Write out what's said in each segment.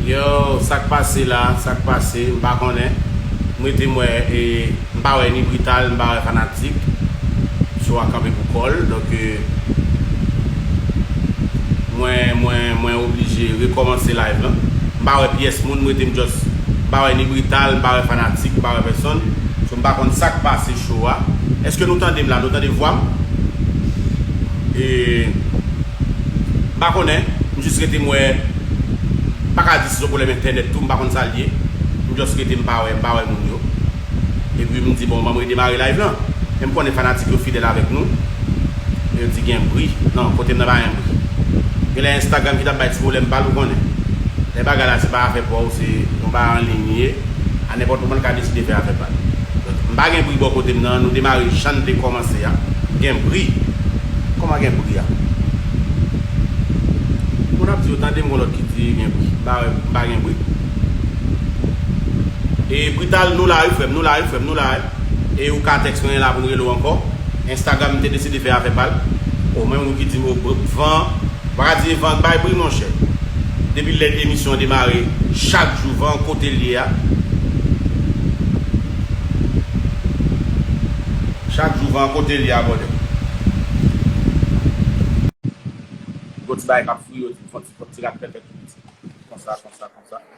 Yow sak pase la sak pase m pa konnen m rete m wè m pa wè ni brital m pa wè fanatik show a kanpe pou kòl donk mwen mwen mwen oblije rekòmanse live lan m pa wè pyès moun m rete m just m pa wè ni brital m pa wè fanatik m pa wè pèsonn so m pa konn sak pase show a eske nou tande m la nou tande vwa m? E m pa konnen, m jis rete m wè, m pa ka di si son pwoblèm entènèt tou, m pa konn sa l ye, m just rete m pa wè, m pa wè moun yo. Epi m di bon banm redemare live lan, men m konnen fanatik yo fidèl avèk nou, e yo di gen bri, non kote m nan pa gen bri. Genlè Instagram ki t ap bay ti pwoblèm pa l ou konnen, lè bagay la se pa afè pa w se yon bagay anliy li ye. a nenpòt moman li ka deside fè afè pal donk m pa gen bri bò kotem nan nou demare jann te kòmanse a gen bri kòman gen bri a moun ap di yo tandem gon lòt ki di gen bri m pa wè m pa gen bri e brital nou la wi frèm nou la wi frèm nou la wi. e ou ka text mwen e la pou n rele w ankò. Instagram te deside fè afè pa l. Oh men moun ki di m oh van an, m pa ka di e van k bay bri monchè. Depi lè emisyon an demare chak jou van an kote l ye a. Chak jou van an kote l ye a bòdè. Gwo ti bagay k ap fri yo ti fon ti pot ti rat pèpè tout piti konsa konsa konsa.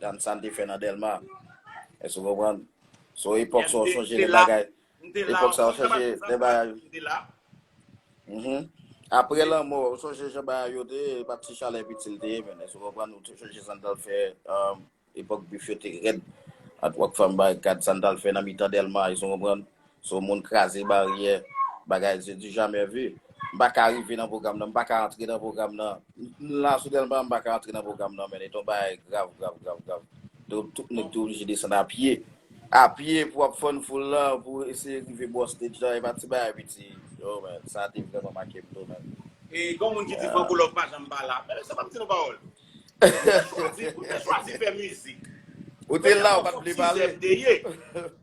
Gad sa n te fè nan Dèlma. Èske w konprann? Se yon epòk sa w sonje lè bagay. M te la. Epòk sa w sonje lè bagay. M te la. Apre lanmò, ou sonje jan bagay yo te ye? E pa ti chalè piti l te ye menm. Èske w konprann? Ou te sonje sa n t al fè epòk bif yo te rèd. Antwòk fanm barikad sa n t al fè nan mitan Dèlma. Èske w konprann? Son moun kraze baryè bagay se du jamais vu. M pa ka rive nan pwogram nan, m pa ka antre nan pwogram nan. M la sou Dèlma, m pa ka antre nan pwogram nan men. E ton bagay grav, grav, grav, grav. Donk tout nèg te oblije desann a pye. A pye pou ap fann foul la, pou eseye rive bò stage la, e pa ti bagay piti. Oh man, sa te vrèman make m tou man. E gen yon moun ki di Van Kolòv pa janm pa la. Mezanmi, sa pa m di nou pawòl. Ou te chwazi, ou te chwazi fè mizik. Ou te la ou pat vle pale.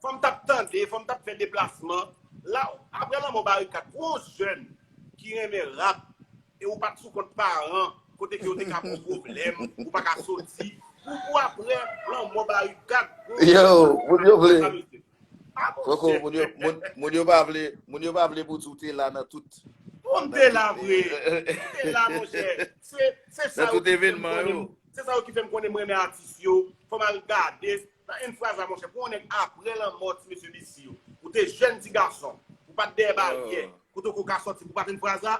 Fòm tap tande, fòm tap fè deplasman. La aprè lanmò Barikat pou yon jèn ki renmen rap e ou pat sou kont paran kote ke yo te ka baw pwoblèm ou pa ka soti pou aprè lanmò Barikat pou yon jèn ki renmen rap. Koko, moun yo pa vle, moun yo pa vle pou di w te la nan tout. Bon m te la vre, m te la mon chè. Se sa yo ki fè m konnen, se sa yo ki fè m konnen m renmen atis yo. Fò m al gade, nan yn fraz la mon chè, pou yon nèg aprè lanmò ti mesye li si yo. Ou te jèn ti gason, ou pa t dèyè baryè, kote ou ka sòti pou pa t yon fraz la.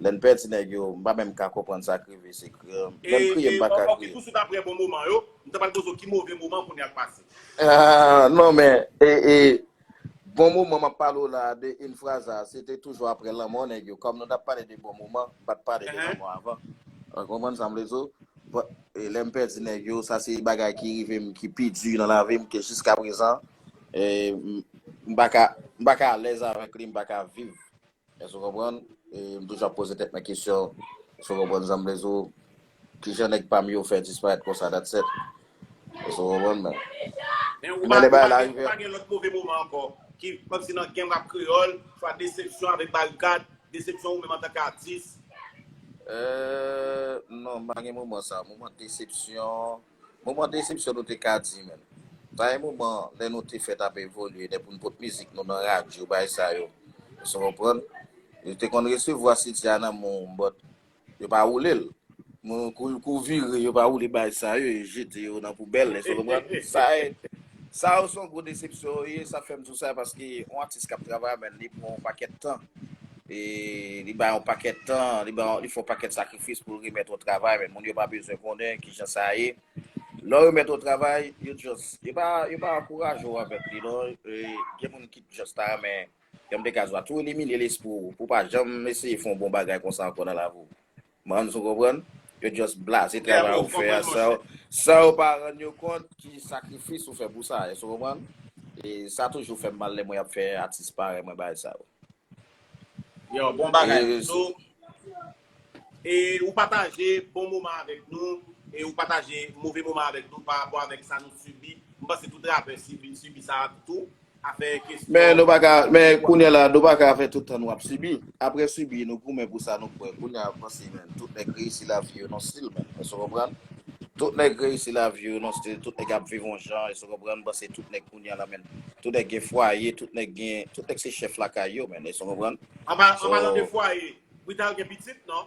Lèn pèdi nèg yo m pa menm ka konprann sa krive se kriye menm kriye m paka kriye. Okikus ou ta prè bon moman yo, m ta pral poze w ki move moman kounya k pase. Aah non men ee bon moman map pale w la de yn fraza se te toujou aprè lanmò nèg yo kòm nou tap pale de bon moman m pat pale de lanmò avan ou konprann sa m vle di w bon e lèm pèdi nèg yo sa se bagay ki rive m ki pi di nan lavi m ke jiskaprezan ee m paka m paka alèz avèk li m paka viv Èske ou konprann? E m toujou ap poze tèt mwen kesyon, èske ou konprann sa m vle di ou? Ki jan nèg pa m yo fè disparèt konsa dat sèt? Èske ou konprann mwen? Men ou pa gen lòt move moman ankò ki kòm si nan genm rap kreyòl, swa desepsyon avèk barikad, desepsyon ou menm antanke atis? Eee, non m pa gen moman sa. Moman desepsyon. Moman desepsyon nou te ka di menm. Pa gen moman lè nou te fèt ap evolye lè pou n pot mizik nou nan radyo bay sa yo. Èske w konprann? Yo te konn resevwa CD a nan men w but yo pa woule l. Moun kou l kou vire yo pa woule bay sa yo yo jete yo nan poubèl èske w konprann? Sa e sa yo se yon gwo desepsyon yo ye sa fè m di w sa paske yon atis k ap travay a menn li pran yon pakèt tan. E li bay yon pakèt tan, li bay yon, li fè yon pakèt sakrifis pou l remèt ou travay, men moun yo pa bezwen konnen ki jan sa ye. Lè yo remèt ou travay, yo just, yo pa, yo pa ankouraje ou avèk li non. E, gen moun ki just ta renmen, jan m te ka di w la, tou elimine lespri w, pou w pa janm eseye fè yon bon bagay konsa ankò nan lavi w. Mans ou konprann? Yo just blaze travay ou fè a san yo pa rann yo kont ki sakrifis ou fè pou sa, èske ou konprann? E sa toujou fè m mal lè m wè y ap fè atis parèy mwen bagay sa yo. Yow bon bagay Manzo e ou pataje bon moman avèk nou e ou pataje move moman avèk nou parapò avèk sa nou sibi, m panse tout rapè sibi sa tou. Men nou pa ka, men kounye la nou pa ka fè tout tan nou ap sibi. Apre sibi nou goumen pou sa nou kwè. Kounye a panse men, tout nèg reyisi lavi yo non stil men, èske w konprann? Tout nèg reyisi lavi yo non stil, tout nèg ap viv on jan, èske w konprann? Panse tout nèg kounye a la men, tout nèg gen fwaye, tout nèg gen, tout nèg se chèf lakay yo men, èske w konprann? An palan de fwaye, Brital gen pitit non?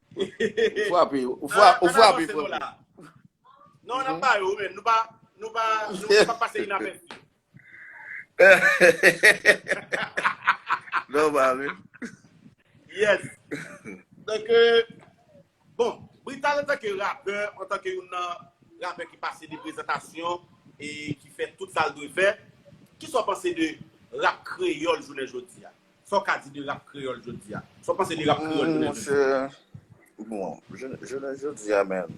Ou fwape, ou fwape, ou fwape frè mwen. Non, nan pa yo men, nou pa, nou pa, nou pa pase inapèsi. Non ba men. Yes. Donk, bon, Brital an tanke rapè, an tanke yon nan rapè ki pase de prezantasyon e ki fè tout sa l dwe fè, ki sa w panse de rap kreyòl jounen jodi a? Sa w ka di de rap kreyòl jodi a? Sa w panse de rap kreyòl jounen jodi a? Monchè, bon, jounen jodi a menm,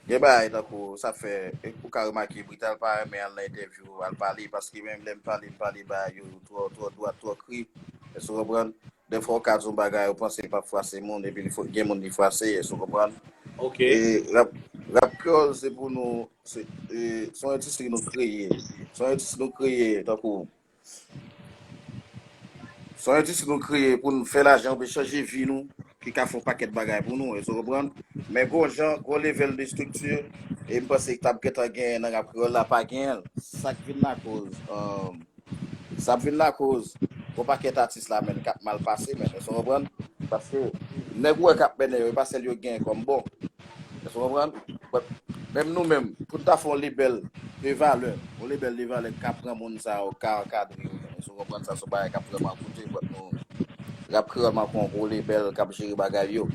gen bagay tankou sa fè, ou ka remake Brital pa renmen al nan entèvyou, al pale, paske menm lè m pale, m pale bagay yo twò, twò dwat, twò kri, èske ou konprann? Dèfwa ou ka di yon bagay, ou panse li p ap fwase moun, epi li gen moun li fwase, èske ou konprann? Ok. E rap, rap kreyòl se pou nou, se yon endistri nou kreye, se yon endistri nou kreye tankou Se yon endistri nou kreye pou nou fè lajan oubyen chanje vi nou ki ka fè yon pakèt bagay pou nou, èske ou konprann? Men gon jan, gon level de strikti e m panse ki t ap gentan genyen nan rap kreyòl la pa genyen l. Sa k vin lakoz, sa ap vin lakoz yon pakèt atis la menn k ap mal pase menn, èske ou konprann? Paske nèg ou wè k ap mennen yo e pa sèl yo genyen kòm bon. Èske w konprann? But, menm nou menm, pou n ta fè yon lebèl de valè, yon lebèl de valè ki ka pran moun sa yo, ki ka ankadre yo menm, èske w konprann? Sa se yon bagay k ap vrèman koute, but nou, Rap Kreyòl manke yon gwo lebèl k ap jere bagay yo.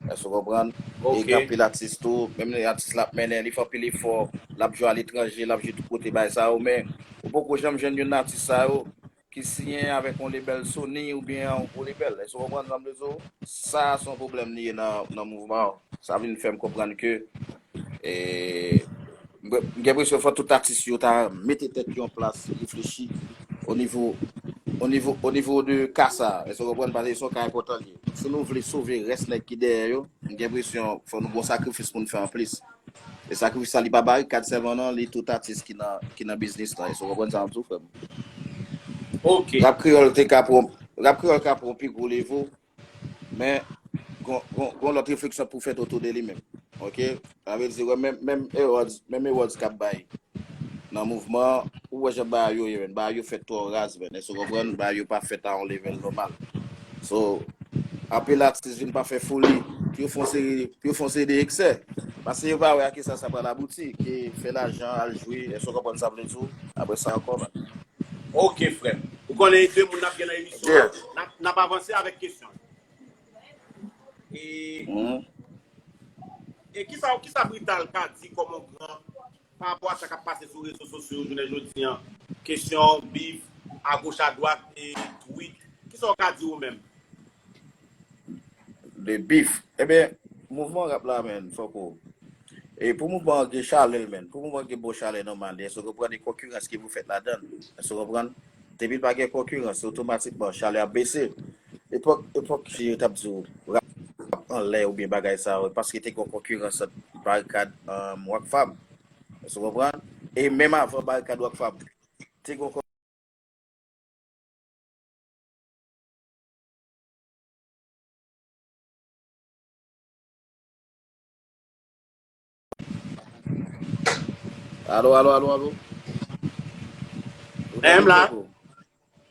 Èske w konprann? E gen anpil atis tou, menm lè atis la ap mennen, li fè anpil efò, l ap jwe aletranje, l ap jwe tout kote bagay sa yo, men ou poko janm jwenn youn nan atis sa yo ki siyen avèk yon lebèl Sony oubyen yon gwo lebèl. Èske w konprann sa m vle di w? Sa a se yon pwoblèm li ye nan mouvman an. Sa vin fè m konprann ke m gen enpresyon fò tout atis yo ta mete tèt yo an plas, reflechi onivo, onivo, onivo de ka sa a. Èske w konprann? Paske se yon ka enpòtan li ye. Si nou vle sove rès nèg ki dèyè yo, m gen enpresyon fò nou gen yon sakrifis pou nou fè anplis. Esa ki sa li pa bay kad sèlman non li tout atis ki nan ki nan biznis lan èske ou konprann sa map di ou frèm? Ok. Rap kreyòl te ka pran rap kreyòl ka pran pi gwo levo men gon gon gon lòt refleksyon pou fèt otou de li menm ok sa vle di wè menm menm Eròds menm Eròds kap bay nan mouvman an ou wè jan bagay yo ye menn bagay yo fèt twò raz menn èske ou konprann bagay yo pa fèt a yon level nòmal. So, anpil atis vin pa fè foli, pou yo fè yon seri, pou yo fè yon seri de eksè. Pase yo pa wè a kisa sa pral abouti, ke fè lajan, al jwe, èske w konprann sa m vle di w? Apre sa ankò ba. Ok frè m. Ou konnen 2 moun n ap gen nan emisyon an, n ap, n ap avanse avèk kesyon yo. E, e kisa, kisa Brital ka di kòm yon gran Pa rapò a sa k ap pase sou rezo sosyo yo jounen jodi an, kesyon bif agoch adwat e twit, ki sa w ka di ou menm? De bif. Enben, mouvman rap la menn, fòk ou. E pou mouvman an gen chalè menn, pou mouvman an gen bon chalè nòmal li, èske w konprann e konkirans ki pou fèt ladan l? Èske w konprann? Depi l pa gen konkirans, otomatikman chalè ap bese. Epòk, epòk yo t ap di w rap anlè oubyen bagay sa yo, paske te gen yon konkirans ant Barikad anm Rock Fam. Èske w konprann? E menm avan Barikad Rock Fam, te gen yon. Alo, alo, alo, alo. Ou tande m la?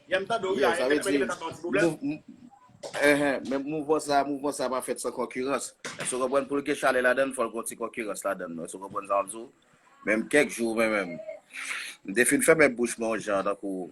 Yè m tande ou la, yè m gen lè tap nan ti problem. Men mouvman sa, mouvman sa pa fèt san konkirans. Sou konprann pou l gen chalè la dan, fò l gen yon ti konkirans la dan. Sou konprann sa m di w? Men kèk jou men men. M te fin fèmen bouch mwen yon jan tankou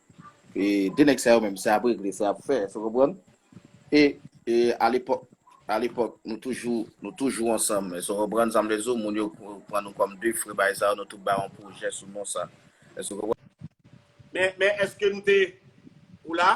E 2 nèg sa yo menm se ap regle se ap fè esou konprann? E e a lepòk a lepòk nou toujou nou toujou ansanm esou konprann sa m vle di w moun yo pran nou kòm 2 frè bagay sa yo nou tout bay yon pwojè sou non sa esou konprann? Men men eske nou te ou la?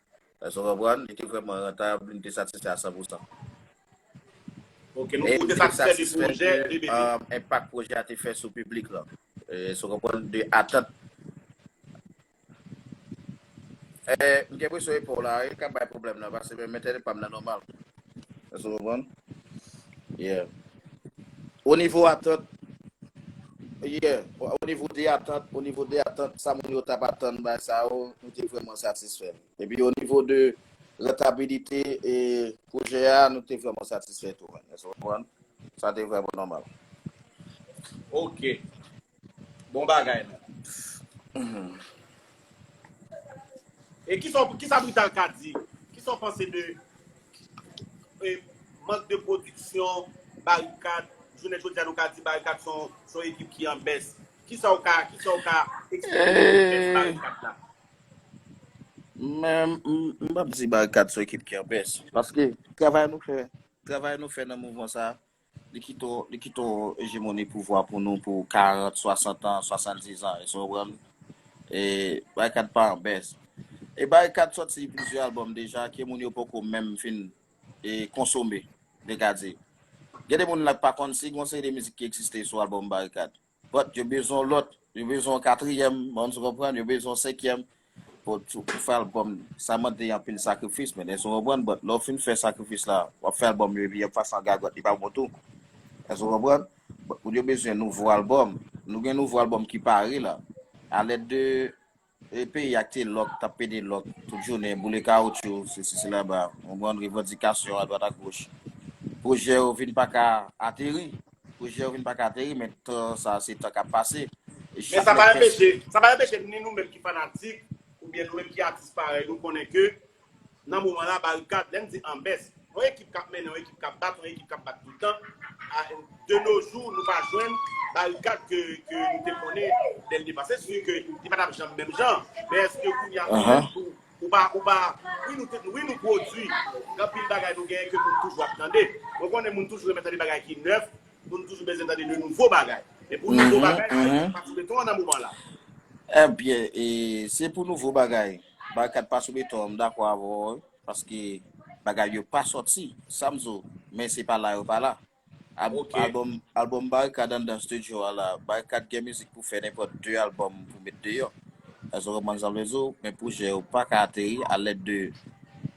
Èske nou konprann? Li te vrèman rantab, li te satisfè a san pou san. Ok, nou te satisfè de pwojè de bebe. Enpak pwojè a te fè sou piblik lan. Èske nou konprann? De atant. M gen presyon epòw la, e ka bay pwoblèm nan, paske menm entènet pa m nan nòmal. Èske nou konprann? Yeah. O nivo atant, yeah, o nivo de atant, o nivo de atant, sa moun yo t ap atann bay sa yo, nou te vrèman satisfè. Epi o nivo de rantabilite e pwojè a, nou te vrèman satisfè tou. Èske nou konprann? Sa te vrèman nòmal. Ok. Bon bagay la. E kisa kisa Brital ka di? Kisa w panse de e mank de pwodiksyon Barikad? Jounen jodi a nou ka di Barikad son son ekip ki an bès. Kisa w ka kisa w ka eksplike de bès Barikad la? Mwen m pap di Barikad son ekip ki an bès. Paske travay nou fè travay nou fè nan mouvman sa Li kite w, li kite w ejemoni pouvwa pou nou pou 40, 60 an, 70 an, èske w konprann? E Barikad pa an bès. E Barikad sòti plizyè albòm deja ke moun yo poko menm fin e konsome. Dega di. Gen de moun la k pa konn si gen yon seri de mizik ki egziste sou albòm Barikad. But yo bezwen yon lòt, yo bezwen yon katriyèm, mònn sou konprann, yo bezwen yon senkyèm, but pou fè album sa mande anpil sakrifis men èske w konprann, but lè w fin fè sakrifis la wap fè album yo epi yap fè sa an gagòt li pa bon tou èske w konprann, but yo bezwen nouvo album, nou gen nouvo album ki pare la a lèd de Peyi a kte lòk, tap pede lòk tout jounen, boule kawoutchou, sesi sela ba, konprann revandikasyon a dwat a goch. Pwojè yo vin pa ka ateri, pwojè yo vin pa ka ateri men tan sa a se tan kap pase. E Men chak sa pa lè pès. enpeche, sa pa enpeche ni nou menm ki fanatik oubyen nou menm ki atis parèy nou konnen ke Nan moman la, Barikad, lè m di anbès, yon ekip k ap mennen, yon ekip k ap bat, yon ekip k ap bat tout tan. De nos jours, nou pa jwenn Barikad ke nou te konnen dès le départ. Se sûr ke li pa t ap janm menm jan, men èske kounye a ou menm tou, ou pa, ou pa, wi nou te, wi nou pwodui anpil bagay nou genyen ke moun toujou ap tande. Mwen konnen moun toujou renmen tande bagay ki nèf, moun toujou bezwen tande de nouvo bagay. Men pou nouvo bagay, Barikad se pa ti beton an nan moman la. Enbyen, e se pou nouvo bagay. Barikad pa sou beton an m dakò avè w wi paske bagay yo pa sòti sa m di w men se pa la yo pa la album album barikad anndan studio a la barikad gen mizik pou fè nenpòt 2 album pou met deyò èske w konprann sa m vle di w men pwojè yo pa ka ateri a lèd de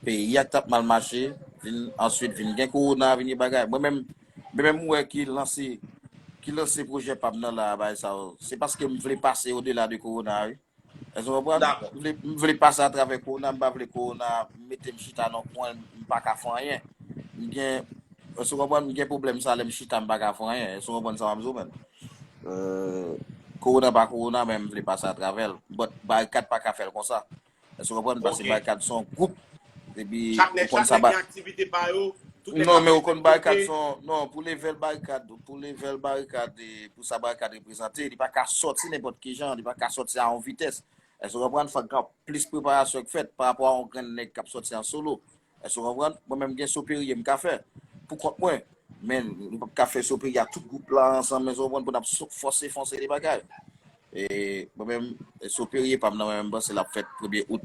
peyi a k t ap mal mache vin answit vin gen kowona vin gen bagay mwen menm mwen menm m wè ki lanse ki lanse pwojè pa m nan la a bagay sa yo se paske m vle pase odela de kowona a wi. Èske w konprann? Dakò. M vle pase atravè kowona, m pa vle kowona mete m chita nan yon kwen m pa ka fè anyen. M gen, èske w konprann, m gen pwoblèm sa lè m chita m pa ka fè anyen. Èske w konprann sa m ap di w menm? Kowona pa kowona men m vle pase atravè l. But barikad pa ka fè l konsa. Èske w konprann? Paske barikad se yon gwoup Epi Chak nèg, ou konn chak sa nèg ba gen aktivite pa yo, tout nèg Non, ap men ou fè konn tèt barikad kote. son Non, pou level barikad Pou level barikad e pou sa barikad reprezante Li pa ka sòti nenpòt ki jan Li pa ka sòti a yon vitès Èske ou konprann? Fòk gen plis preparasyon k fèt pa rapò a yon grenn nèg k ap sòti an solo Èske ou konprann? Mwen menm m gen Soperye m ka fè pou kont mwen Men m p ap ka fè Soperye ak tout gwoup la ansanm Èske ou konprann? Pou n ap fòse fonse de bagay E mwen menm soperiye pam nan mwen menm panse lap fèt premye out.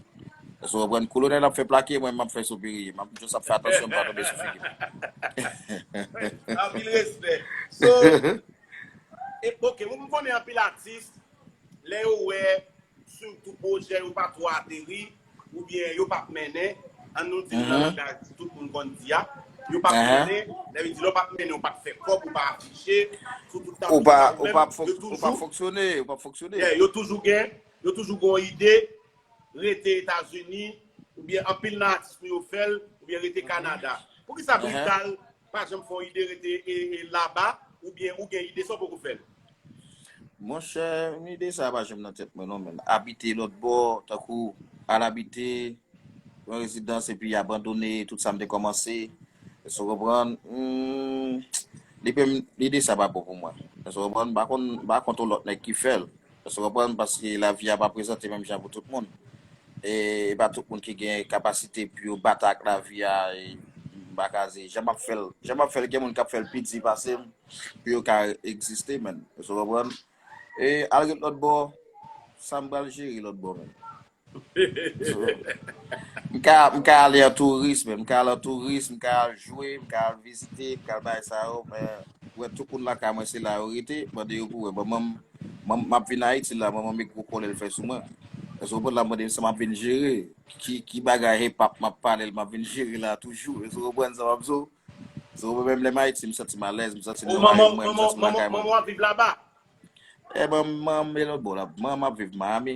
Èske w konprann? Kolonèl ap fè plake, mwen menm map fè soperiye. Map just ap fè atansyon m pa tonbe sou figi m. Anpil respè. So, ok, m konnen anpil atis lè yo wè sitou pwojè yo pa twò ateri, Ou byen yo pap mennen, an nou di l nan langaj tout moun konn di a, yo pap mennen, lè yo di lè w pap mennen ou pap fè kòb, ou pa afiche, sou tout tablo sa yo menm, yo toujou. Ou pap fonksyone, ou pap fonksyone. Yeah, yo toujou gen, yo toujou gen yon ide, rete Etazini, ou byen anpil nan atis nou yo fè l, ou byen rete Kanada. Poukisa Brital Pa janm fè yon ide rete laba ou byen ou gen ide sa w poko fè l. Monchè, ide sa a pa janm nan tèt mwen non menn. Abite lòt bò, tankou al abite yon rezidans epi abandone tout sa m te kòmanse. Èske w konprann? Hum, li menm ide sa a pa bon pou mwen. Èske w konprann? M pa konn, m pa kont yon lòt nèg ki fè l. Èske w konprann? Paske lavi a pa prezante menm jan pou tout moun. E e pa tout moun ki gen kapasite pou yo batay ak lavi a e m pa ka di jan m ap fè l, jan m ap fè l gen moun k ap fè l pi di pase m pou yo ka egziste menn. Èske w konprann? E al ret lòtbò, sa m pral jere lòtbò menm? M ka ale an touris men. M ka al an touris, m ka al jwe, m ka al vizite, m ka al bagay sa yo men ou wè tout moun lakay mwen se la yo rete, mande yo pou wè. Manman m, m ap vin Ayiti la, manman m e gwo kòlè l fè sou mwen. Èske ou konprann l ap mande m sa m ap vin jere? Ki bagay hip-hop m ap pale l m ap vin jere la toujou? Èske ou konprann sa m ap di w? Èske ou konprann menm lè m Ayiti m santi m alèz, m santi m nan rayonn mwen, m santi m lakay mwen. Manman w ap viv laba? Manman m e lòt bò la. Manman m ap viv Miami.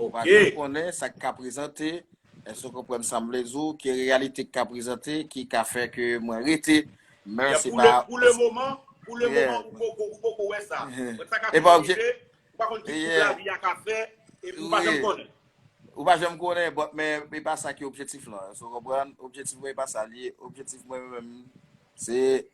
Ou pa janm konnen sa ki ka prezante, èske ou konprann sa m vle di w, ki reyalite ki ka prezante ki ka fè ke mwen rete, men se pa. Pou le moman, pou le moman ou poko wè sa. Mwen sa ka fè mwen rive, ou pa konn ki kout lavi a ka fè, epi ou pa janm konnen. Ou pa janm konnen, but men e pa sa ki objektif lan. Èske ou konprann? Objektif mwen e pa sa li ye. Objektif mwen menm se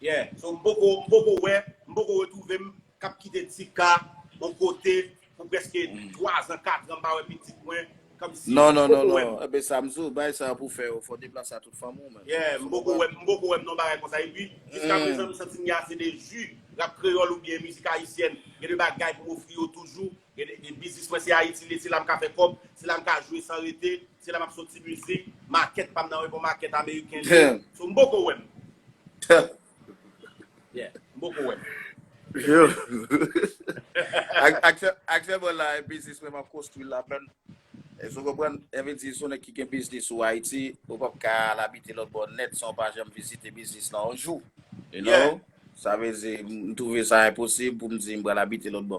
Yeah so m poko m poko wè m poko retrouve m kap kite Tika on kote pou preske 3 zan 4 an m pa wè pitit mwen komsi m poko wè m. Ebyen sa m di w bagay sa pou w fè yo fò w deplase a tout fanm ou menm. Yeah m poko wè m poko wè m non bagay konsa epi jiska prezan m santi m gen ase de ju rap kreyòl oubyen mizik ayisyèn gen de bagay pou m ofri yo toujou Gen de biznis mwen se Ayiti liye, se la m ka fè kòb, se la m ka jwe san rete, se la m ap soti mizik, makèt pa m nan yon bon makèt ameriken liye, so m poko wè m. Yeah, m poko wè m. Aktyèlman la e biznis mwen m ap konstwi l la menm, èske w konprann? Sa vle di si w se nèg ki gen biznis ou Ayiti, ou p ap ka al abite lòtbò nèt san w pa janm vizite biznis lan yon jou, you know? Sa vle di m twouve sa enposib pou m di m pral abite lòtbò.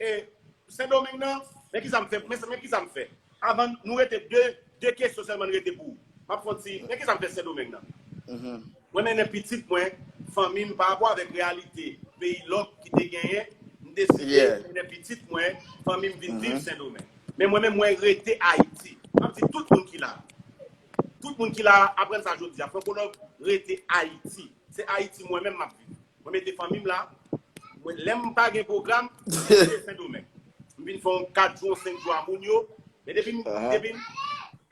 E sendomeng nan men kisa m fè men men kisa m fè avan nou rete de de kesyon sèlman n rete pou map fon ti men kisa m fè sendomeng nan mwen mennen pitit mwen fanmi m parapò avèk reyalite peyi lòk ki te genyen m deside mennen pitit mwen fanmi m vin viv sendomeng men mwen menm mwen rete ayiti map di tout moun ki la tout moun ki la aprann sa jodi a fonkològ rete ayiti se ayiti mwen menm map viv Mwen mete fanmi m la. Mwen lè m pa gen pwogram, mwen rete Sendomeng. M vin fè yon 4 jou, yon 5 jou a moun yo. Men depi m, depi m,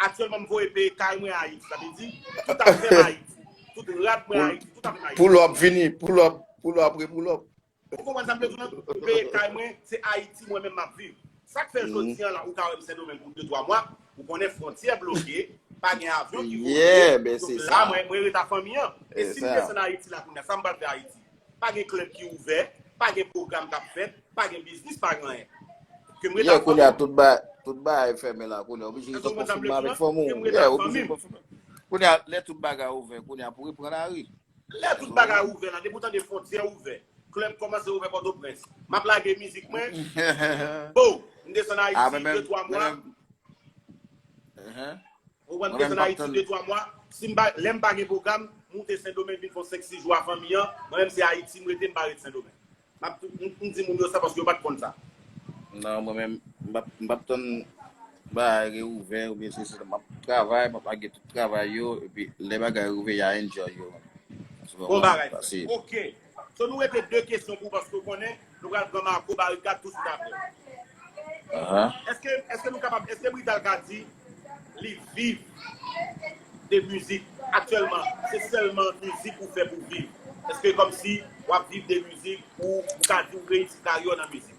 aktyèlman m voye pe kay mwen Ayiti. Sa vle di, tout afè m Ayiti. Tout rad mwen Ayiti, tout afè m Ayiti. Pull up vini, pull up, pull up re pull up. Ou konprann sa m vle di w lan? M peye kay mwen, se Ayiti mwen menm m ap viv. Sak fè jodi an la ou ka wèm sendomeng pou 2 3 mwa ou konnen frontyè bloke pa gen avyon ki vole donk la mwen ret a fanmi an e sim desann ayiti la kounya sam pral fè ayiti pa gen klèb ki ouvè pa gen pwogram kap fèt pa gen biznis pa gen anyen kem ret a fanmi an tout bagay fèmen la kounya ou bije ret a fanmi an kem ret a fanmi an kounya lè tout bagay ouvè kounya pou repran lari Lè tout bagay ouvè la depi ou tande fontyè ouvè club komanse ouvè potoprens map lage mizik mwen bo m desann ayiti 2 3 mwa ou wè m desann ayiti 2 3 mwa si m pa lè m pa gen pwogram m moute sendomeng vin fon 5 6 jou a fanmi an mwen menm se ayiti m rete m pa ret sendomeng. Map tou m di moun yo sa paske yo pat konn sa. Nan mwen menm m pap tann bagay reouvè oubyen sesi sa map travay map lage tout travay yo epi lè bagay reouvè ya enjoy yo. Bon bagay frèm ok. So nou rete 2 kesyon pou ou paske ou konnen nou pral pran Marco Barikad touswit aprè. Eske nou kapab eske Brital ka di Li viv de mizik aktyèlman se sèlman mizik ou fè pou viv eske kòmsi wap viv de mizik ou ou ka di ou reyisi karyè w nan mizik.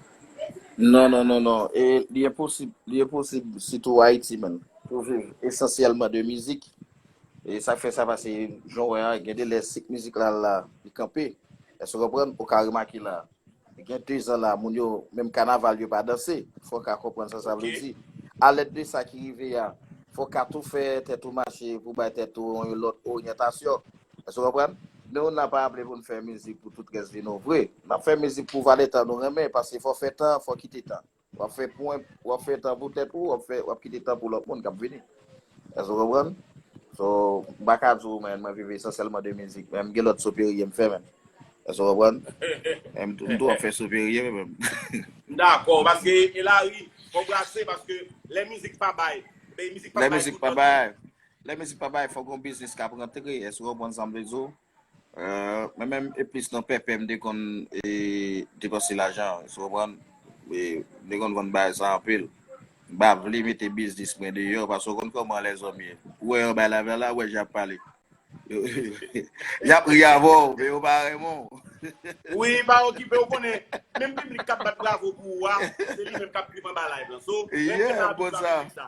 Non non non non e li enposib li enposib sitou ayiti menm pou viv esansyèlman de mizik e sak fè sa pase jan w wè a gen de lè sik mizik la la li kanpe èske w konprann ou ka remake la Gen 2 zan la, moun yo, menm kanaval yo pa danse. Fò w ka konprann sa sa vle di. Alèd de sa ki rive a, fò w ka tou fè tèt ou mache pou w bay tèt ou yon lòt oryantasyon. Èske w konprann? Nou nan pa aple pou n fè mizik pou tout rès vi nou vre. N ap fè mizik pou vale tan nou renmen, paske fò w fè tan, fò w kite tan. Wap fè pwen, wap fè tan pou tèt ou, wap fè, wap kite tan pou lòt moun kap vini. Èske ou konprann? So, m pa ka di ou men mwen viv esansyèlman de mizik, men m gen lòt soperye m fè menm. Èske ou konprann? Men m tou ap fè soperye mwen menm. M dakò, paske e lari, fò w brase, paske lè mizik pa bay, mizik pa bay tout lòt. Lè mizik pa bay, fò w gen yon biznis kap rantre, èske ou konprann sa m vle di ou? Mwen menm e plis nan pèpè m te konn depanse lajan sou konprann m te konn vann bagay sa anpil m pa vle mete biznis mwen deyò paske ou konn kòman lèzòm ye ou wè yon bagay la vè la ou wè jan y ap pale y ap ri avè w men yo pa renmen w Wi pa okipe ou konnen menm piblik k ap bat bravo pou ou a se li menm k ap ri m anba live lan so renmen sa a tout sa piblik sa.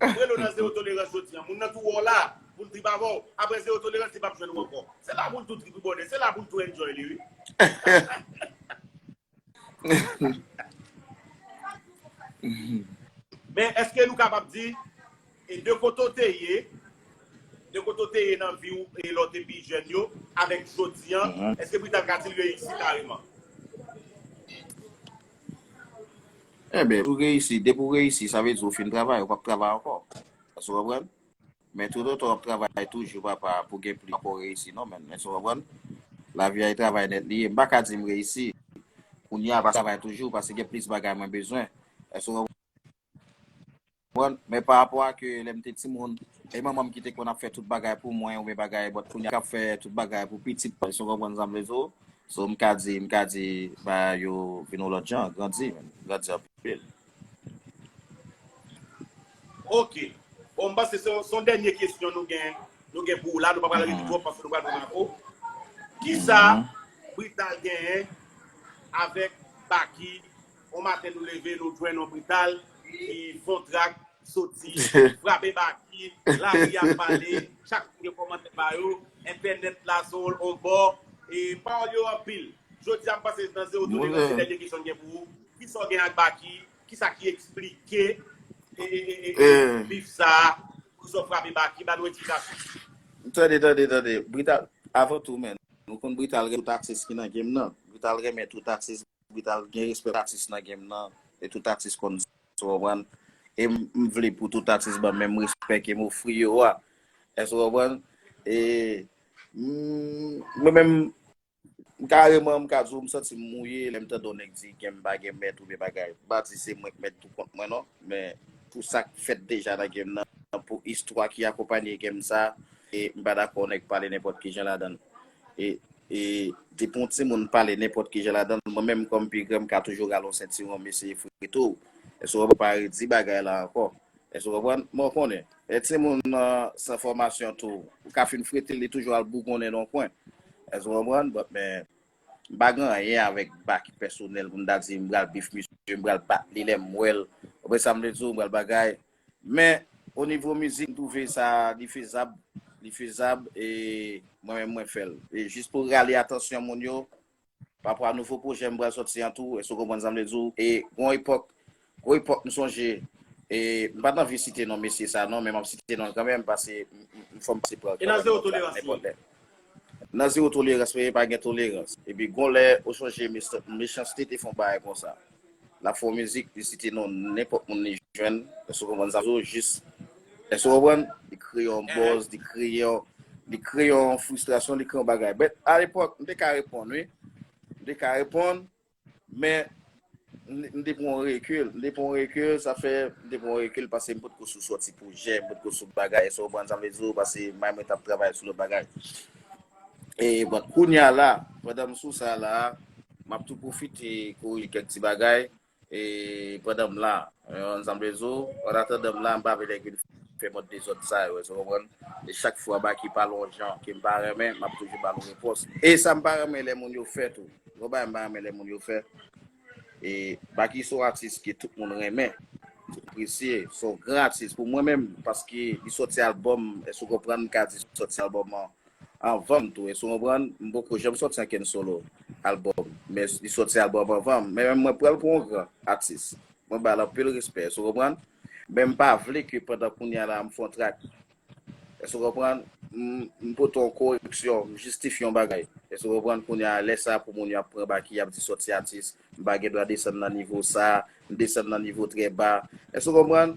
Mwen lo nan zero tolerans jodi an moun nan tou wè w la pou l trip avè w aprè zero tolerans li pap jwenn ou ankò se la pou l tou trip wi bòdè se la pou l tou enjoy li wi. Men eske nou kapab di e de kote w te ye de kote w te ye nan vi w e lè w te pi jèn yo avèk jodi an eske Brital ka di l yo ekziste kareman? Enben si w reyisi, depi w reyisi sa vle di ou fin travay, ou pap travay ankò. Èske w konprann? Men toutotan w ap travay toujou papa pou gen plis ou pako reyisi non menn. Èske w konprann? Lavi a e travay nèt li ye. M paka di m reyisi kounya paske m travay toujou paske gen plis bagay mwen bezwen. Èske w konprann? Konprann? Men pa rapò a ke lè m te timoun, e manman m ki te konn ap fè tout bagay pou mwen oubyen bagay, bòt kounye a kap fè tout bagay pou pitit mwen, si w konprann sa m vle di w. So m ka di, m ka di bagay yo vin yon lòt jan, grandi menm, grandi anpil. Ok. Bon, m panse se yon dènye kesyon nou gen, nou gen pou ou la, nou pa pral rete twòp paske nou pral pran Marco. Kisa Brital genyen avèk Baky On maten nou leve nou jwenn on brital ki pon trak soti frape baki, lari a pale, chak moun gen kòmantè pa yo, entènèt la sou on bò, e pawòl yo anpil. Jodi a m panse se nan Zero To Negosye Moulen. dènye kesyon m gen pou ou, kisa w gen ak Baky, kisa ki eksplike bif sa a, poukisa w frape Baky, ba nou eksplikasyon. Tande tande tande, Brital avan tou men nou konn Brital renmen tout atis ki nan game nan, Brital renmen tout atis Vital gen respè pou atis nan game nan e tout atis konn sa ou konprann e m vle pou tout atis banm menm respè kem ofri yo a èske ou konprann e mwen menm kareman m ka di w m santi m mouye lè m tande yon nèg di game m pa gen mèt oubyen bagay m pa di se mwen k mèt tou kont mwen non men pou sa k fèt deja nan game nan pou istwa ki akonpanye game sa e m pa dakò nèg pale nenpòt kijan ladan l Depi yon timoun pale nenpòt kijan ladan l, mwen menm kòm pi gran m ka toujou rale yon sentiwon m eseye frito w. Èske w konprann? M pa redi bagay la ankò. Èske w konprann? Men w konnen, lè timoun nan san fòmasyon tou, ou ka fin frite l, li toujou al bougonnen nan yon kwen. Èske w konprann? Bon, men, m pa gen anyen avèk Baky pèsonèl pou m ta di m pral bif misye, m pral bat li lè m wè l. Ou konprann sa m vle di w? M pral bagay. Men o nivo mizik m twouve sa li fezab, li fezab e mwen menm mwen fè l. E jis pou rale atansyon moun yo parapò a nouvo pwojè m pral sòti an tou, èske w konprann sa m vle di w? E gon epòk, gwo epòk m sonje e m pat anvi site non mesye sa non men m ap site non l kanmenm pase m fò m pase pa l kanmenm nenpòt lè. Nan zero tolerans men pa gen tolerans epi gon lè ou sonje Mechanste te fon bagay konsa lap fon mizik li site non nenpòt moun li jwenn èske ou konprann sa zo jis èske ou konprann li kreye yon bòz li kreye yon li kreye yon fristrasyon li kreye yon bagay bèt alepòk m te ka reponn wi m te ka reponn Men, m te pran yon rekil. M te pran yon rekil, sa fè, m te pran yon rekil pase m potko sou sòti pwojè, m potko sou bagay, esou konprann sa m vle di w, pase may mwen t ap travay sou lòt bagay. E, bon, kounya la, pandan m sou sa la, m ap tou pwofite korije kèk ti bagay, e, pandan m la, konprann sa m vle di w, annatandan m la, m pa vle lè vin. fè mòd dezòd sa yo, èske w konprann? E chak fwa Baky pale yon jan ke m pa renmen, m ap toujou ba l yon repons. E sa m pa renmen lè moun yo fè tou, yon bagay m pa renmen lè moun yo fè, e Baky se yon atis ke tout moun renmen, tout moun apresye, se yon gran atis pou mwen menm, paske li sòti albòm, èske w konprann, m ka di sòti albòm an. anvanm tou esou konprann m poko janm sòti ankenn solo album men li sòti album anvanm men mwen pranl pou yon gran atis mwen bal anpil respè esou konprann men m pa vle ke pandan kounya la m fè yon track esou konprann m pote yon koreksyon m jistifye yon bagay esou konprann kounya lè sa pou moun yo ap pran Baky yap di sòti atis m pa gen dwa desann nan nivo sa m desann nan nivo trè ba esou konprann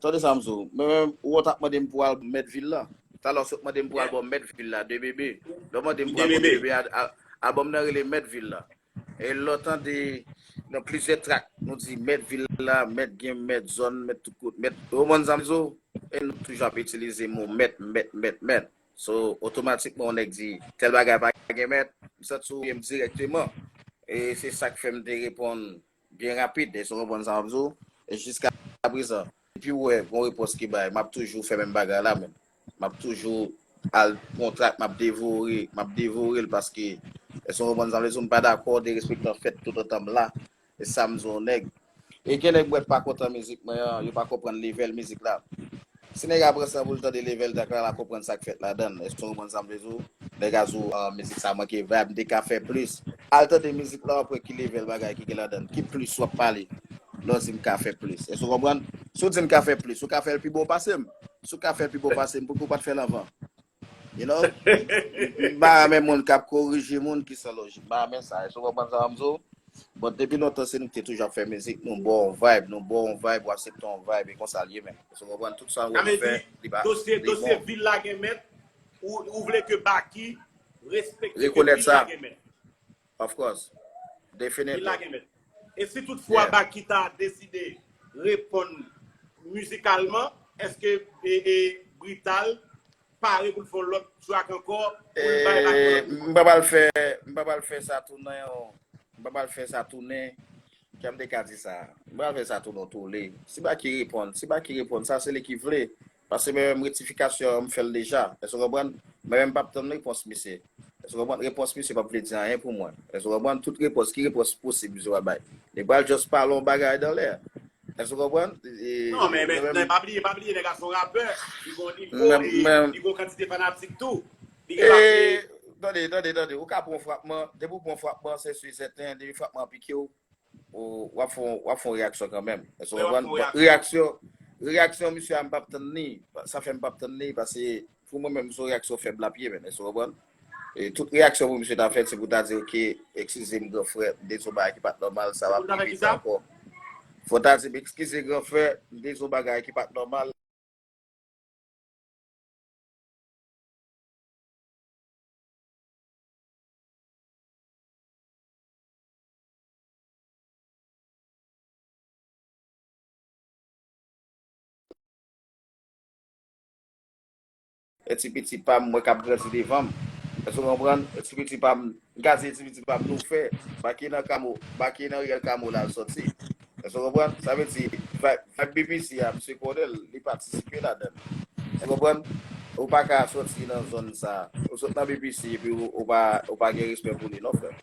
Tande sa m di w, mwen menm, ou wè w t ap mande m pou w al ba m mèt vil la. Talè w se w t mande m pou w al ba m mèt vil la, de bebe. Lè w mande m pou w al ba m de bebe a, albòm nan rele Mèt vil la. E lè w tande nan plizyè trak, nou di mèt vil la, mèt gem, mèt zòn, mèt tout kote, mèt. Ou konprann sa m di w? E nou toujou ap itilize mo mèt, mèt, mèt, mèt. So, otomatikman yon nèg di tèl bagay pa gen mèt, m santi w ye m dirèkteman. E se sa k fè m te reponn Byen rapid, èske w konprann sa map di w? E jiskaprezan, depi w wè gon repons ki bay, map toujou fè menm bagay la menm. Map toujou al pran yon trak map devore, map devore l paske, èske w konprann sa mvle di w? M pa dakò derespektan fèt toutotan m la. E sa m di yon nèg. E gen nèg m wè pa kontan mizik mwen an, yo pa konprann level mizik la. Si nèg a pran san poul tande level track la lap konprann sak fèt ladann èske w konprann sam vle di w nèg a sou mizik sa manke vibe m te ka fè plis al tande mizik la wap wè ki level bagay ki gen ladann ki plis wap pale lè w di m ka fè plis èske w konprann si w di m ka fè plis ou ka fèl pi bon pase m si w ka fèl pi bon pase m poukisa w pat fèl anvan You know, m pa renmen moun kap korije moun ki san lojik. M pa renmen sa. Esou konprann sa m di w? Bon, depi lontan se nou ki te toujou ap fè mizik, nou bo yon vibe, nou bo yon vibe, ou asepte yon vibe, e konsa l ye menm. Esou konprann? Tout sa ou wè nou fè, li pa, li bon. Dosye vil la gen mèt, ou vle ke Baky respekte ke vil la gen mèt. Of course. Definitely. Li la gen mèt. E si tout fwa Baky ta deside reponn mizikalman, eske Brital pare pou l fè yon lòt track ankò pou l bay Baky yon lòt mizik? M pa pral fè sa tounen yon, m pa pral fè sa tounen, jan m te ka di sa, m pa pral fè sa tounen yon toule. Si Baky reponn, si Baky reponn, sa se li ki vle. Pase mwen menm rektifikasyon an m fèl deja èske w konprann mwen menm pap tann repons misye èske w konprann repons misye pap vle di anyen pou mwen èske w konprann tout repons ki repons posib misye pral bay li pral just pale yon bagay dan lè èske w konprann non men mwen menm pa bliye pa bliye nèg a son rapè li gon nivo li gon kantite fanatik tou li gen pase tande tande tande ou ka pran frapman depi ou pran frapman se su e sèten depi frapman an pike w Wap fon wap fon reyaksyon kanmenm. Èske w konprann? Bon, reyaksyon, reyaksyon misye a m pap tann li. Sa fè m pap tann li pase pou mwen menm son reyaksyon fèb lap ye menn. Èske w konprann? E tout reyaksyon pou misye ta fè se pou ta di ok, ekskize m gran frè, m te di yon bagay ki pat nòmal, sa pap rive sa ankò. Fò w ta di m ekskize gran frè, m te di yon bagay ki pat nòmal. E ti piti pa m mwen k ap grandi devan m. Èske ou konprann? E ti piti pa m, m ka di e ti piti pa m nou fè, Baky nan kamo, Baky nan riyèl kamo la l sòti. Èske w konprann? Sa vle di, vibe BBC a, misye konnen l, li patisipe ladan l. Ou konprann? Ou pa ka soti nan zòn sa a. Ou sot nan BBC epi ou pa gen respè pou li non frè m.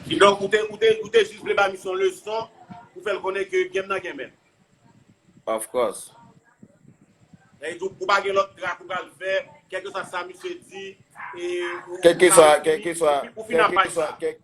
Kidonk, ou te jis vle ba misye yon leson pou fè l konnen ke game nan gen mèt. Of course. Epi tou, ou pa gen lòt trak ou pral fè, kèlkeswa sa misye di, ou fin nan paj sa a.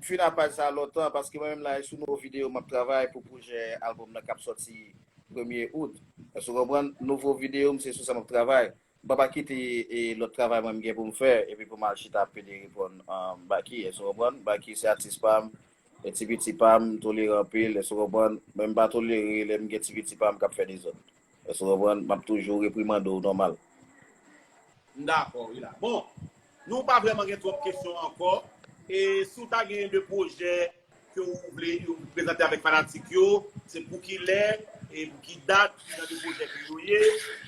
M fin a paj sa lontan paske mwen menm la e sou nouvo videyo map travay pou pwojè album nan kap sòti premye out. Èske w konprann? Nouvo videyo m se sou sa map travay. M papa kite e lòt travay mwen m gen pou m fè epi pou m al chita ap pede reponn Baky. Èske w konprann? Baky se atis pa m, e ti piti pa m, m tolere anpil, èske w konprann? Men m pa tolere lè m gen ti piti pa m kap fè dezòd. Èske ou konprann? M ap toujou reprimande ou nòmal. M dakò wi la. Bon, nou pa vrèman gen twòp kesyon ankò. E si ou ta gen de pwojè ke ou vle prezante avèk fanatik yo, se pou ki lè e pou ki dat, ki jan de pwojè ke yo ye,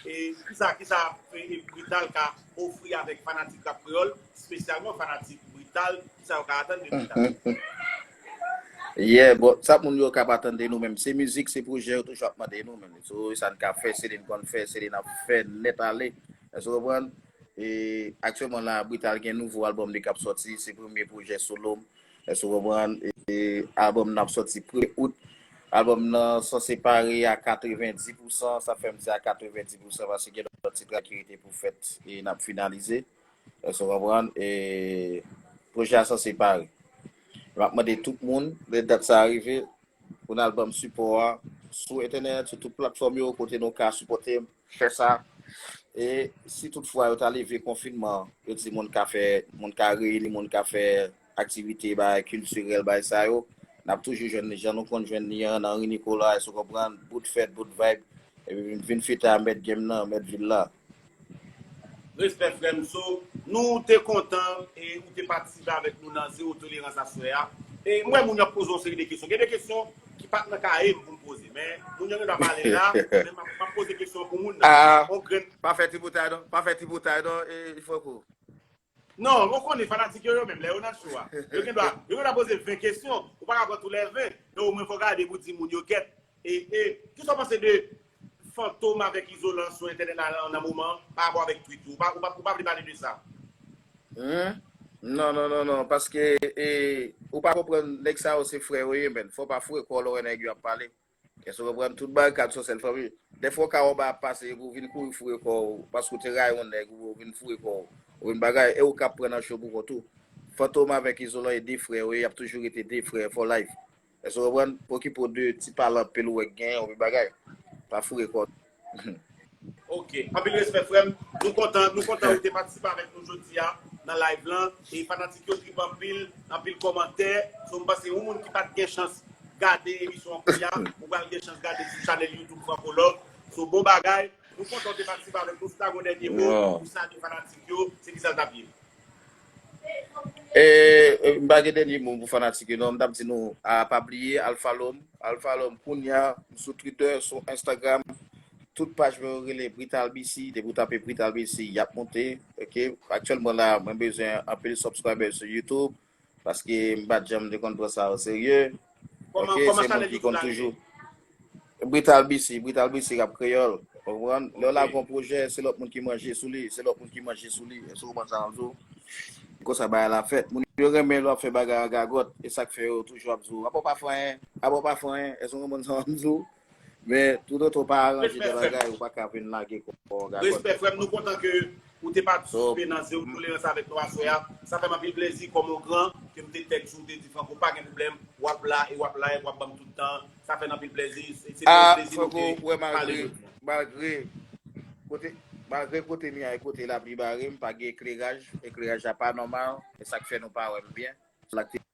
e ki sa, ki sa Brital ka ofri avèk fanatik Rap Kreyòl, spesyalman fanatik Brital, ki sa yo ka atann de Brital? Yeah bon sa moun yo kap atan de nou menm se mizik se pwojè yo toujou ap mande nou menm so sa n ka fè se li n konn fè se li n ap fè nèt ale èske w konprann e aktyèlman la Brital gen nouvo albòm li kap sòti se premye pwojè solo m èske w konprann e albòm nan ap sòti premye out albòm nan sanse pare a 90 pousan sa fè m di a 90 pousan paske gen lòt ti trak ki rete pou fèt e n ap finalize. Èske nou konprann? E pwojè a sanse pare. E m ap mande tout moun, lè dat sa a rive, pou n al ban m sipò a sou entènèt, sou tout platfòm yo, kote nou ka sipòte m fè sa. E si toutfwa yo ta leve konfinman, yo di moun ka fè, moun ka reyini, moun ka fè. aktivite bagay kiltirèl bagay sa yo nap toujou jwenn li jan nou konn jwenn li an nan ri Nicolas ou konprann bout fèt bout vibe epi m vin fita mèt game nan mèt vil la. Respè frèm so nou te kontan e ou te patisipe avèk nou nan zero tolerans aswè a e m wè moun yo ap poze yon seri de kesyon gen de kesyon ki pat nan kayem poum poze men moun yo gen dwa pale la men map poze kesyon an pou moun nan on grenn Pa fè tripotay non pa fè tripotay non e fòk ou. Non, ou konnen fanatik yo yo menm lè yo nan show a, yo gen dwa, yo gen dwa poze 20 kesyon, ou pa ka pran tou lè 20, men omwen fò gade pou di moun yo gèt e e kisa w panse de Fantom avèk Izolan sou entènèt la nan moman an pa rapò avèk tweet yo, ou pa ou pa vle pale de sa? Humm non non non non paske e ou pa konprann nèg sa yo se frè yo ye menn fò pa foure kò lò wè nèg yo ap pale. Èske w konprann? Tout barikad son sèl fanmi. Dèfwa w ka wè yon bagay ap pase epi w vin kouri foure kò w paske w te rayi yon nèg oubyen w vin foure kò w ou vin bagay e ou ka ap pran nan cho pou kont ou. Fantom avèk Izolan e 2 frè yo ye, y ap toujou rete 2 frè for life. Èske w konprann? Okipe w de ti pale anpil ou wè k gen ou vin bagay. Pa foure kò w. Ok, anpil respè frèm, nou kontan, nou kontan ou te patisipe avèk nou jodia nan live lan, e fanatik yo trip anpil, anpil kòmantè, so m panse yon moun ki pat gen chans gade emisyon an kounya, ou pral gen chans gade sou chanèl youtube Francolove, so bon bagay, nou kontan ou te patisipe avèk nou, si ta gen yon dènye mo pou salye fanatik yo, se kisa l tap ye? Eee m pa gen dènye mo pou fanatik yo non, m t ap di nou a pa bliye al follow m, al follow m kounya m sou Twitter, sou Instagram, tout paj mwen yo rele Brital BC, depi w tape Brital BC y ap monte ok, aktyèlman la mwen bezwen anpil subscribers sou YouTube paske m pa t janm te konn pran sa oserye. Ok, se moun ki konn toujou. Brital BC, Brital BC rap kreyòl. Ou konprann? Lè w lage yon pwojè, se lòt moun ki manje sou li, se lòt moun ki manje sou li. Èske ou konprann sa m ap di w? E konsa bagay la fèt. Moun yo renmen lè w ap fè bagay an gagòt. E sa k fè yo toujou ap di w, apa w pa fè anyen? Apa w pa fè anyen? Èske ou konprann sa m ap di w? Men toutotan ou pa aranje de bagay ou pa ka vin lage kò an gagòt. Respè frèm nou kontan ke ou te patisipe nan zero tolerans avèk nou aswè a sa fèm anpil plezi kòm on gran ke m te tèks ou te di Franco pa gen pwoblèm wap la e wap live wap banm tout tan sa fè n anpil plezi e se te on plezi nou te pale jodi an. Malgre kote malgre kote m ye a e kote lapli bare m pa gen ekleraj ekleraj la pa nòmal e sak fè nou pa wè m byen se sak te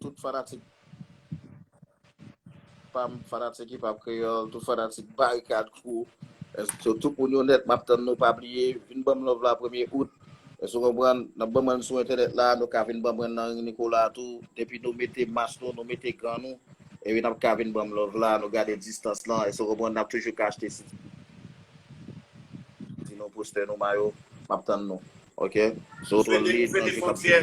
Tout fanatik pam, fanatik Hip Hop Kreyol, tout fanatik Barikad Crew, eske tout moun yo nèt map tann nou pa bliye vin banm love la premye out. Eske w konprann? Nap banm rann sou entènèt la, nou ka vin banm rann nan Ring Nicolas tou, depi nou mete mas nou, nou mete gan nou, epi nap ka vin banm love la, nou gade distans lan, eske w konprann, nap toujou ka achte CD nou, postè nou, mayo, map tann nou ok. Sou Veni Veni Fontyè.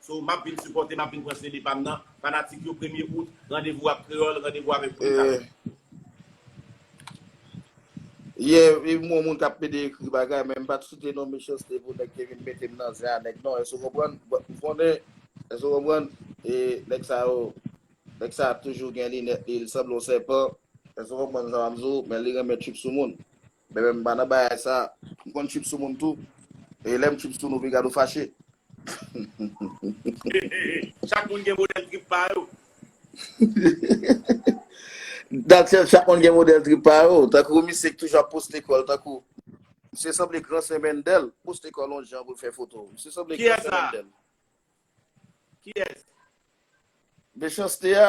So map vin sipòte map vin pran CD pam nan fanatik yo premye out randevou ak kreyòl randevou avèk Brutal. Yeah Yeah e mwen moun kap pede ekri bagay men mpat site non Mechanste pou nèg te vin metem nan zen a nèg non èske ou konprann but ou konnen èske ou konprann e nèg sa yo nèg sa toujou gen linèt li li sanble yon sèpan èske ou konprann sa map di w men li renmen trip sou moun. Bebe m pa nan bagay sa. M konn trip sou moun tou. E lè m trip sou nou piga nou fache. Chak moun gen modèl trip pa yo. Dat sèl chak moun gen modèl trip pa yo. Tankou misye ki toujou ap poste kò l tankou. Misye sanble gran sè Mendel. Poste kò l yon jan pou l fè foto. Misye sanble gran sè Mendel. Kiyès sa? Mechanste a.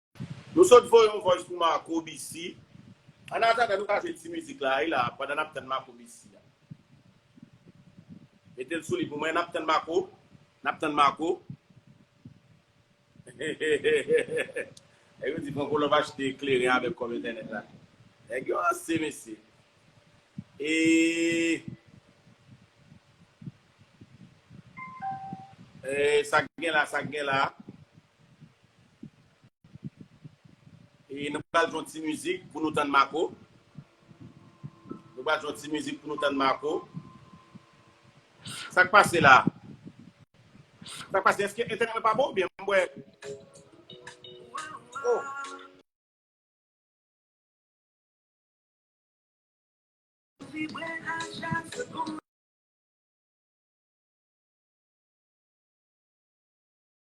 Nou sot voye yon voice pou Marco Bisi. An atandan nou ka jwe ti mizik la wi la pandan nap tann Marco Bisi a. Metel sou li pou mwen nap tann Marco nap tann Marco. Nèg yo di Franco Love achte kleren avèk kòb entènèt la. Nèg yo ranse mesye. Eeee Eeee sak gen la sak gen la. E nou pral jwe yon ti mizik pou nou tann Marco. Nou pral jwe yon ti mizik pou nou tann Marco. Sak pase la? Sak pase? Eske entènèt mwen pa bon oubyen m wè Oh!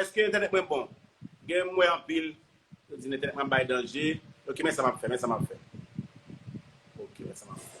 Eske entènèt mwen bon? Gen m wè anpil yo di entènèt mwen ap bay danje. Ok men sa map fè, men sa map fè. Ok men sa map fè.